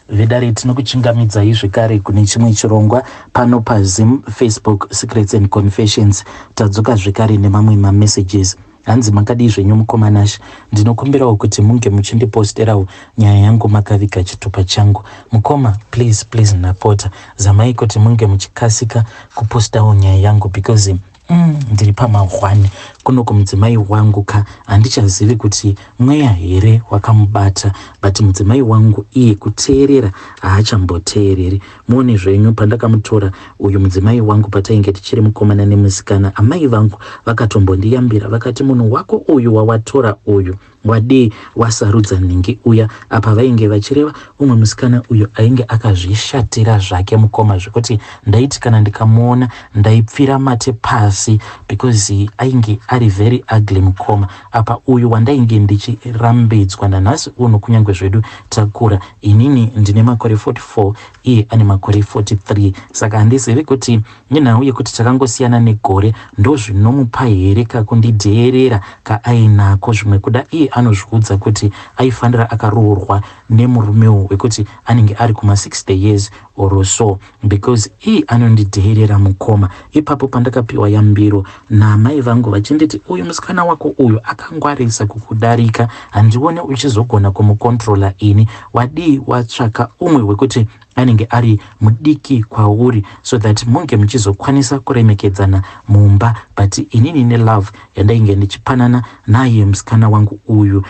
vedare tinokuchingamidzai zvekare kune chimwe chirongwa pano pazim facebook secrets and confessions tadzoka zvekare nemamwe mamessages hanzi makadii zvenyu mukomanash ndinokumbirawo kuti munge muchindiposterawo nyaya yangu makaviga chitupa changu mukoma please please napota zamai kuti munge muchikasika kupostawo nyaya yangu because Mm, ndiri pamahwani kuno kumudzimai wangu ka handichazivi kuti mweya here wakamubata but mudzimai wangu iye kuteerera haachamboteereri muone zvenyu pandakamutora uyu mudzimai wangu patainge tichiri mukomana nemusikana amai vangu vakatombondiyambira vakati munhu wako uyu wawatora uyu Wadii wasarudza nhingi uya? Apa vainge vachireva umwe musikana uyo ainge akazvishatira zvake mukoma zvekuti ndaiti kana ndikamuona ndaipfira mate pasi because ainge ari very ugly mukoma. Apa uyu wandainge ndichirambidzwa nanhasi uno kunyange zvedu takura inini ndine makore 44 iye ane makore 43 saka handizivi kuti Nenhau yekuti takangosiyana negore ndozvinomupa here kakundidheerera kaainako zvimwe kuda iye anozviudza kuti aifanira akaroorwa nemurume uyu wekuti anenge ari kuma 60 years or so because iye anondidheerera mukoma ipapo pandakapiwa yambiro naamai vangu vachinditi uyu musikana wako uyu akangwarisa kukudarika handione uchizogona kumukontrola ini wadii watsvaka umwe wekuti anenge ari mudiki kwauri so that munge muchizokwanisa kuremekedzana mumba but inini nelove yandainge ndichipanana naye musikana wangu uyu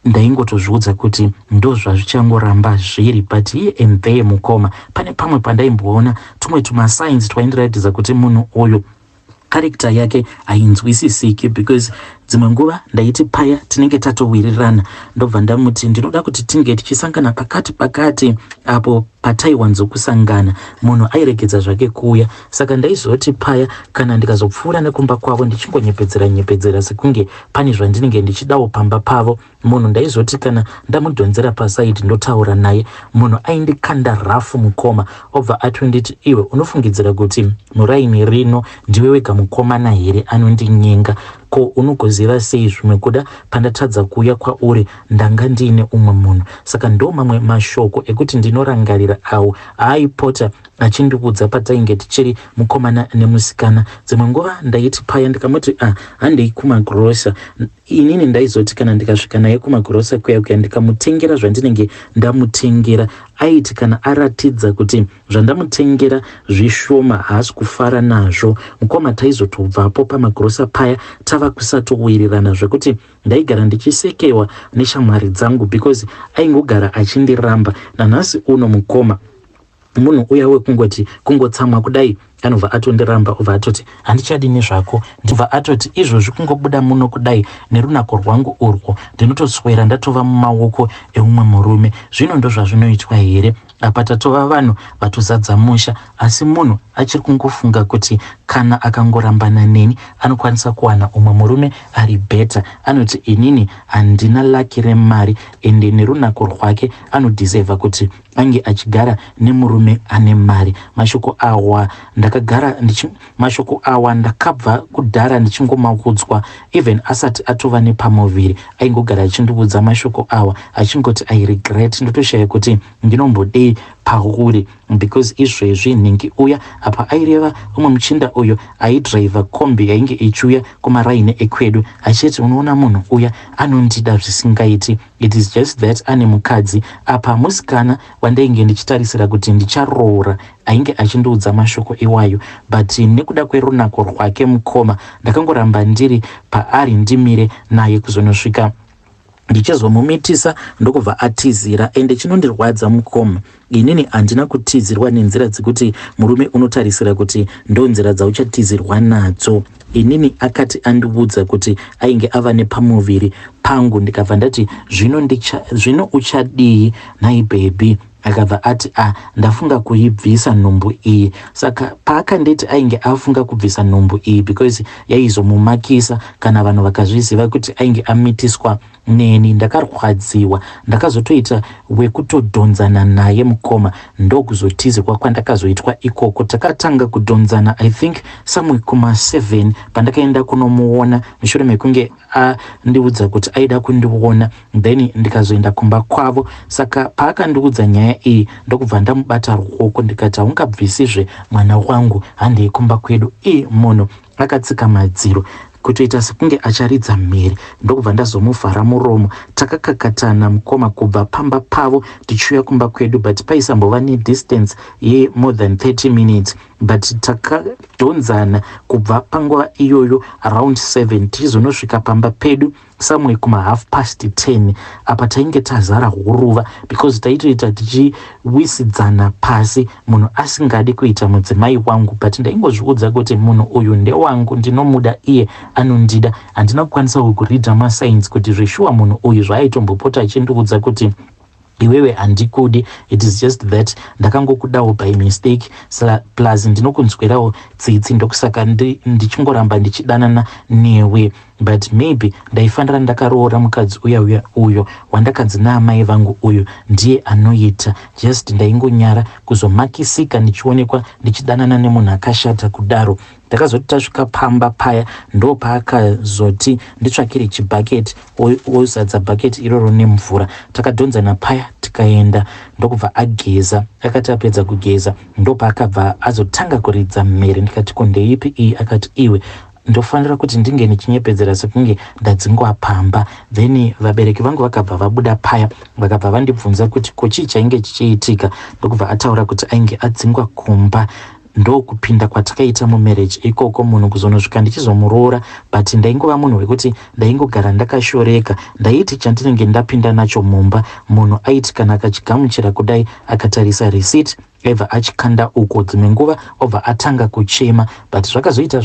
ndaingotozviudza kuti ndozvazvichangoramba zviri but here and there mukoma pane pamwe pandaimboona tumwe tumasigns twaindiratidza kuti munhu uyu character yake hainzwisisiki because dzimwe nguva ndaiti paya tinenge tatowirirana ndobva ndamuti ndinoda kuti tinge tichisangana pakati pakati apo pataiwanzokusangana munhu airegedza zvake kuuya saka ndaizoti paya kana ndikazopfuura nekumba kwavo ndichingonyepedzera nyepedzera sekunge pane zvandinenge ndichidawo pamba pavo munhu ndaizoti kana ndamudhonzera pasaidi ndotaura naye munhu aindikanda rafu mukoma obva atonditi iwe unofungidzira kuti muraini rino ndiwe wega mukomana here anondinyenga ko unogoziva sei zvimwe kuda pandatadza kuuya kwauri ndanga ndiine umwe munhu saka ndo mamwe mashoko ekuti ndinorangarira awo aaipota achindiudza patainge tichiri mukomana nemusikana dzimwe nguva ndaiti paya ndikamuti ah, handei kumagrosa Inini ndaizoti kana ndikasvika naye kumagirosa kuya kuya ndikamutengera zvandinenge ndamutengera aiti kana aratidza kuti zvandamutengera zvishoma haasi kufara nazvo mukoma taizotobvapo pamagirosa paya tava kusatowirirana zvekuti ndaigara ndichisekewa neshamwari dzangu because aingogara achindiramba nanhasi uno mukoma Munhu uya wekungoti kungotsamwa kudai anobva atondiramba obva atoti handichadi nezvako ndibva atoti izvozvi kungobuda muno kudai nerunako rwangu urwo ndinotoswera ndatova mumaoko eumwe murume zvino ndozvazvinoitwa here apa tatova vanhu vatozadza musha asi munhu achiri kungofunga kuti kana akangorambana neni anokwanisa kuwana umwe murume ari beta anoti inini handina laki remari ende nerunako rwake anodhisevha kuti ange achigara nemurume ane mari mashoko awa ndakagara ndichi mashoko awa ndakabva kudhara ndichingomakudzwa even asati atova nepamuviri aingogara achindiudza mashoko awa achingoti i regret ndotoshaya kuti ndinombodei pauri because izvezvi nhingi uya apa aireva umwe muchinda uyo aidriver kombi yainge ichiuya kumaraini ekwedu achiti unoona munhu uya anondida zvisingaiti It is just that ane mukadzi apa musikana wandainge ndichitarisira kuti ndicharoora ainge achindiudza mashoko iwayo but nekuda kwerunako rwake mukoma ndakangoramba ndiri paari ndimire naye kuzonosvika ndichizomumitisa ndokubva atizira ende chinondirwadza mukoma Inini handina kutizirwa nenzira dzekuti murume unotarisira kuti ndonzira dzauchatizirwa nadzo. Inini akati andiudza kuti ainge ava nepamuviri pangu ndikabva ndati zvino, ndicha, zvino uchadii nhai bhebhi? Akabva ati a ah, ndafunga kuibvisa nhumbu iyi. Saka paakanditi ainge afunga kubvisa nhumbu iyi because yaizomumakisa kana vanhu vakazviziva kuti ainge amitiswa neni ndakarwadziwa ndakazotoita wekutodhonzana naye mukoma ndokuzotizikwa kwandakazoitwa ikoko takatanga kudhonzana i think somewhere kuma 7 pandakaenda kunomuona mushure mekunge andiudza kuti aida kundiona then ndikazoenda kumba kwavo saka paakandiudza nyaya iyi ndokubva ndamubata ruoko ndikati haungabvisizve mwana wangu handei kumba kwedu ii munhu Akatsika madziro kutoita sekunge acharidza mhere ndokubva ndazomuvhara muromo. Takakakatana mukoma kubva pamba pavo tichiuya kumba kwedu but paisambova nedistance ye more than 30 minutes but takadhonzana kubva panguva iyoyo around 7 tichizonosvika pamba pedu somewhere kuma half past ten apa tainge tazara huruva because taitoita tichiwisidzana pasi munhu asingadi kuita mudzimai wangu but ndaingozviudza kuti munhu uyu ndewangu ndinomuda iye anondida handina kukwanisa kukuridha masigns kuti zveshuwa munhu uyu zvaayitombopota achindiudza kuti Iwewe handikudi it is just that ndakangokudawo by mistake sa plus ndinokunzwirawo tsitsi ndokusaka ndi, ndichingoramba ndichidanana newe but maybe ndaifanira ndakaroora mukadzi uya uya uyo wandakanzi naamai vangu uyu ndiye anoita just ndaingonyara kuzomakisika ndichionekwa ndichidanana nemunhu akashata kudaro Takazoti tasvika pamba paya ndo paakazoti nditsvakire chibhaketi ozadza bhaketi iroro nemvura. Takadhonzana paya tikaenda ndokubva ageza. Akati apedza kugeza ndo paakabva azotanga kuridza mhere ndikati ko ndeipi iyi akati iwe ndofanira kuti ndinge ndichinyepedzera sekunge ndadzingwa pamba then vabereki vangu vakabva vabuda paya vakabva vandibvunza kuti ko chii chainge chichiitika ndokubva ataura kuti ainge adzingwa kumba ndokupinda kwatakaita mumarriage ikoko munhu kuzonosvika ndichizomuroora but ndaingova munhu wekuti ndaingogara ndakashoreka ndaiti chandinenge ndapinda nacho mumba munhu aiti kana akachigamuchira kudai akatarisa receipt aibva achikanda uko dzimwe nguva obva atanga kuchema but zvakazoita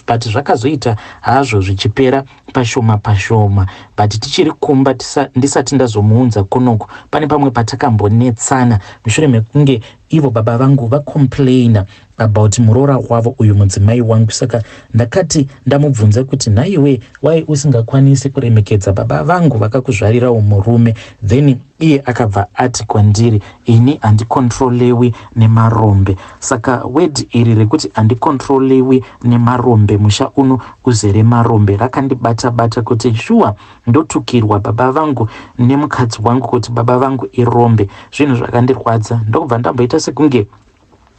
but zvakazoita hazvo zvichipera pashoma pashoma but tichiri kumba ndisati ndazomuunza kunoku pane pamwe patakambonetsana mushure mekunge Ivo baba vangu va complainer about muroora wavo uyu mudzimai wangu saka ndakati ndamubvunza kuti nhaiwe why usingakwanisi kuremekedza baba vangu vakakuzvarirawo murume then iye akabva ati kwandiri ini handikontrolewi nemarombe saka word iri rekuti handikontrolewi nemarombe musha uno uzere marombe rakandibata bata kuti shuwa Ndotukirwa baba vangu nemukadzi wangu kuti baba vangu irombe. Zvinhu zvakandirwadza ndokubva ndamboita sekunge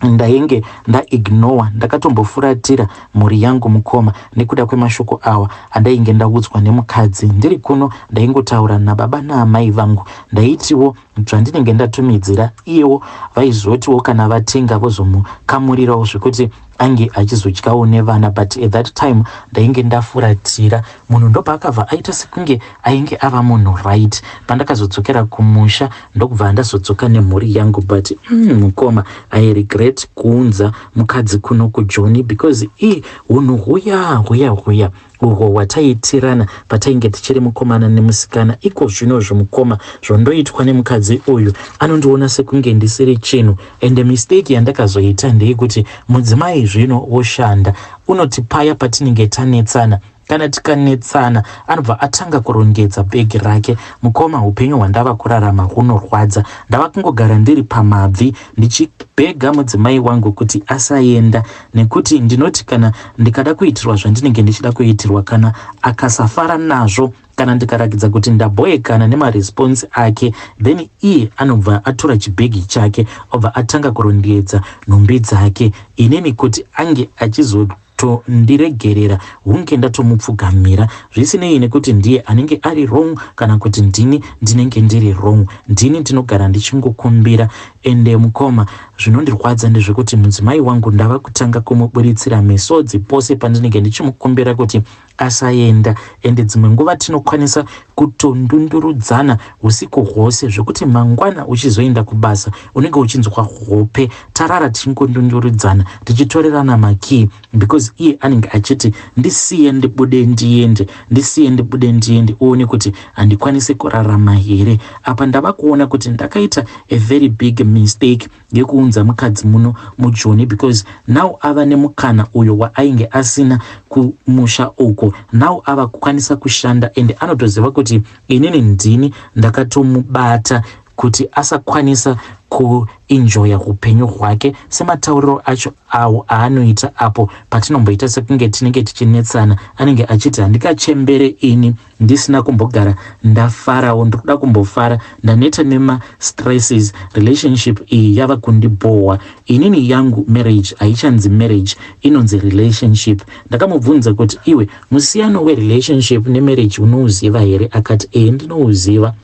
ndainge ndaignowa ndakatombofuratira mhuri yangu mukoma nekuda kwemashoko awa andainge ndaudzwa nemukadzi ndiri kuno ndaingotaura nababa naamai vangu ndaitiwo zvandinenge ndatumidzira iyewo vaizotiwo kana vatenga vozomukamurirawo zvekuti ange achizodyawo nevana but at that time ndainge ndafuratira munhu ndopaakabva aita sekunge ainge ava munhu right pandakazodzokera kumusha ndokubva ndazodzoka nemhuri yangu but mm, mukoma i regret kuunza mukadzi kuno kujoni because i hunhu huya huya huya Uhwo hwataiitirana patainge tichiri mukomana nemusikana iko zvino zvimukoma zvondoitwa nemukadzi uyu anondiona sekunge ndisiri chinhu ende mistake yandakazoita ndeyekuti mudzimai zvino woshanda unoti paya patinenge tanetsana kana tikanetsana anobva atanga kurongedza bhegi rake mukoma upenyu hwandava kurarama hunorwadza ndava kungogara ndiri pamabvi ndichibhega mudzimai wangu kuti asaenda nekuti ndinoti kana ndikada kuitirwa zvandinenge ndichida kuitirwa kana akasafara nazvo kana ndikarakidza kuti ndabhoekana nemaresponse ake then iye anobva atora chibhegi chake obva atanga kurondedza nhumbi dzake inini kuti ange achizotondiregerera hunge ndatomupfugamira zvisinei nekuti ndiye anenge ari wrong kana kuti ndini ndinenge ndiri wrong ndini ndinogara ndichingokumbira Ende mukoma, zvinondirwadza ndezvekuti mudzimai wangu ndava kutanga kumuburitsira misodzi pose pandinenge ndichimukumbira kuti asaenda. Ende dzimwe nguva tinokwanisa kutondundurudzana husiku hwose zvekuti mangwana uchizoenda kubasa unenge uchinzwa hope tarara tichingondundurudzana tichitorerana makii. because iye anenge achiti ndisiye ndibude ndiende ndisiye ndibude ndiende uone kuti handikwanise kurarama here apa ndava kuona kuti ndakaita a very big mistake yekuunza mukadzi muno mujoni because now ava nemukana uyo waainge asina kumusha uko now ava kukwanisa kushanda and anotoziva kuti inini ndini ndakatomubata kuti asakwanisa kuenjoya hupenyu hwake sematauriro acho awo aanoita apo patinomboita sekunge tinenge tichinetsana anenge achiti handikachembere ini ndisina kumbogara ndafarawo ndiri kuda kumbofara ndaneta nemastresses relationship iyi yava kundibhohwa inini yangu marriage haichanzi marriage inonzi relationship ndakamubvunza kuti iwe musiyano werelationship nemarriage unouziva here akati ee ndinouziva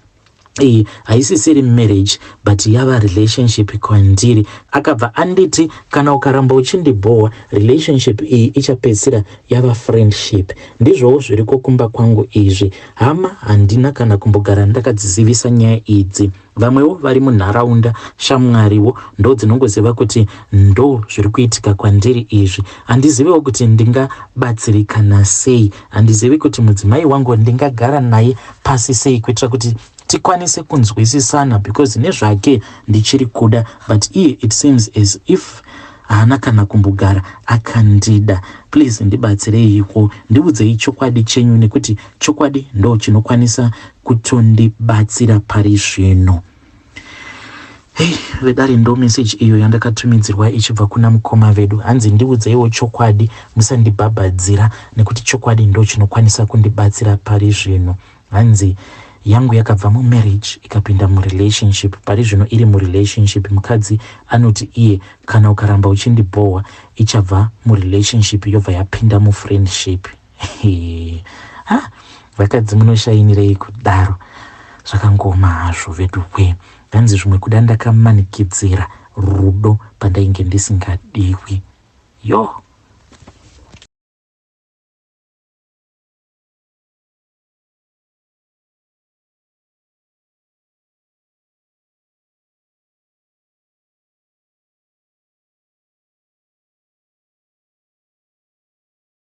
iyi haisisiri marriage but yava relationship kwandiri akabva anditi kana ukaramba uchindibhowa relationship iyi ichapedzisira yava friendship ndizvowo zviriko kumba kwangu izvi hama handina kana kumbogara ndakadzizivisa nyaya idzi vamwewo vari munharaunda shamwariwo ndo dzinongoziva kuti ndo zviri kuitika kwandiri izvi handizivewo kuti ndingabatsirikana sei Handizivi kuti mudzimai wangu ndingagara naye pasi sei kuitira kuti tikwanise kunzwisisana because nezvake ndichiri kuda but iye it seems as if haana kana kumbogara akandida. Please ndibatsireiwo, ndiudzei chokwadi chenyu nekuti chokwadi ndo chinokwanisa kutondibatsira pari zvino. Hei vedare ndo message iyo yandakatumidzirwa ichibva kuna mukoma vedu hanzi ndiudzeiwo chokwadi musandibhabhadzira nekuti chokwadi ndo chinokwanisa kundibatsira pari zvino hanzi yangu yakabva mumarriage ikapinda murelationship pari zvino iri murelationship mukadzi anoti iye kana ukaramba uchindibhohwa ichabva murelationship yobva yapinda mufriendship ha vakadzi munoshainirei kudaro zvakangooma hazvo vedukwee hanzi zvimwe kuda ndakamanikidzira rudo pandainge ndisingadiwi yo